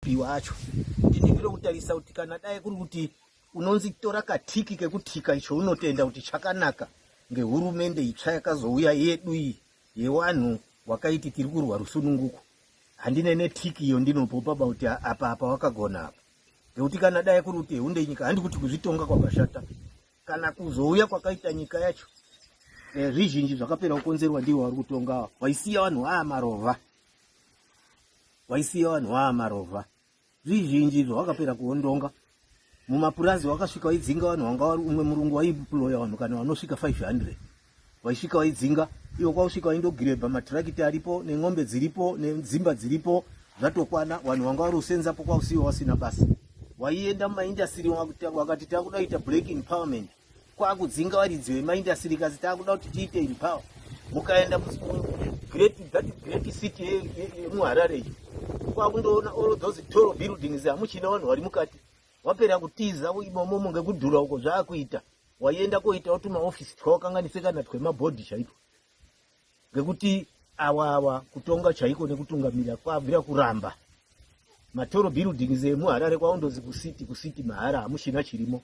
Mabhiwa acho ndini ndiri kutarisa kuti kana dai kuri kuti unonzi tora katiki kekutika icho unotenda kuti chakanaka ngehurumende itsva yakazouya yedu iyi yewanhu wakaiti tiri kurwa rusununguko handine netiki iyo ndinopopa ba kuti apa apa wakagona apa ngekuti kana dai kuri kuti hunde nyika handi kuti kuzvitonga kwakashata kana kuzouya kwakaita nyika yacho eh, zvizhinji zvakapera kukonzerwa ndivo vari kutonga waisiya vanhu aa marova waisiya vanhu vaa marovha zvizhinji izvo wakapera kuondonga mumapurazi wakasvika waidzinga vanhu wanga wari umwe murungu waiploya vanhu kana vanosvika 500 waisvika waidzinga ivo kwausvika waindogirebha matirakiti aripo nen'ombe dziripo nedzimba dziripo zvatokwana vanhu vanga wari usenzapo kwausiwo wasina basa waienda mumaindastiri wakati takuda kuita black empowerment kwakudzinga varidzi vemaindastiri kasi takuda kuti tiite empower mukaenda great that great city yemuharare iyo kwakundoona all those tall buildings hamuchina vanhu vari mukati wapera kutiza imomomo ngekudhura uko zvaakuita waienda koitawo tumaofisi twawakanganise kana twemabhodhi chaitwa ngekuti awa awa kutonga chaiko nekutungamira kwabvira kuramba matoro buildings emuharare kwaundozi kucity kucity mahara hamuchina chirimo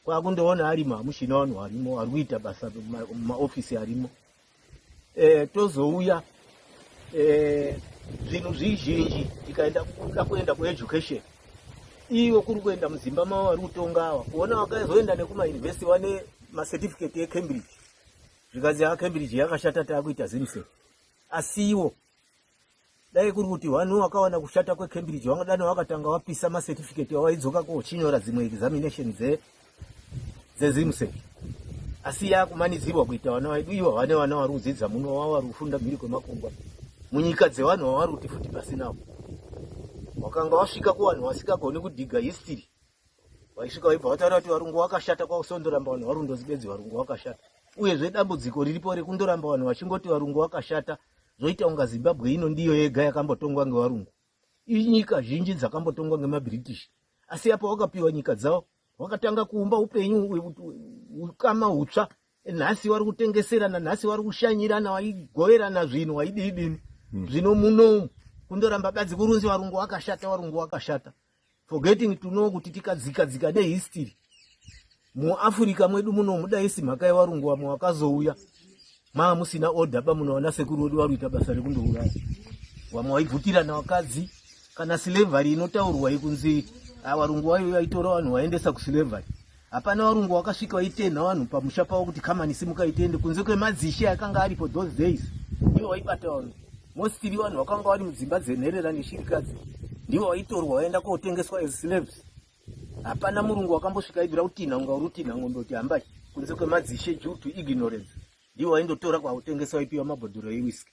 kwakundoona arimo hamuchina vanhu varimo vari kuita basa mumaofisi arimo e, tozouya e, zvinhu zvizhinji tikaenda kuda kuenda kueducation ivo kuri kuenda muzimba mavo vari kutonga ava kuona vakazoenda nekumauniversity vane macertificate ecambridge zvikanzi acambridge yakashata taakuita zimse asiwo dai kuri kuti vanhu vakawana kushata kwecambridge vangadani vakatanga vapisa macertificate avaidzoka kochinyora dzimwe examination dzezimsec asi yakumanidzirwa kuita vana vaidu ivo vane vana vari kudzidza muno vava vari kufunda mhiri kwemakungwa munyika dzevanhu vavari kuti futi pasinawo wakanga wasvika kuvanhu vasingagoni kudhiga history vaisvika vaibva vataura kuti varungu wakashata kwausondoramba vanhu varundozi bedzi varungu wakashata uyezve dambudziko riripo rekundoramba vanhu vachingoti varungu wakashata zvoita unga zimbabwe ino ndiyo yega yakambotongwa ngevarungu inyika zhinji dzakambotongwa ngemabritish asi apo wakapiwa nyika dzavo wakatanga kuumba upenyu ukama utsva nhasi vari kutengeserana nhasi vari kushanyirana waigoverana zvinhu waidii dini hmm. zvino munomu kundoramba badzi kurunzi varungu wakashata varungu wakashata forgetting to know kuti tikadzika dzika nehistory muafrica mwedu muno mudaisi mhaka yevarungu vamwe vakazouya maa musina order ba munoona sekuru wedu varuita basa rekundouraya vamwe vaibvutirana vakadzi kana slavery inotaurwa ikunzi avarungu ah, vayo vaitora vanhu vaendesa kuslavery Hapana varungu wakasvika vaitenha vanhu pamusha pavo kuti kamani simukai tiende kunze kwemadzishe akanga aripo those days ndivo vaibata vanhu mostili vanhu vakanga vari mudzimba dzenherera neshirikadzi ndivo vaitorwa vaenda kotengeswa as slaves hapana murungu wakambosvika aibvira kutinha unga uri kutinha ngombe kuti hambai kunze kwemadzishe due to ignorance ndivo vaindotora kwakutengeswa ipiwa mabhodhoro ewiski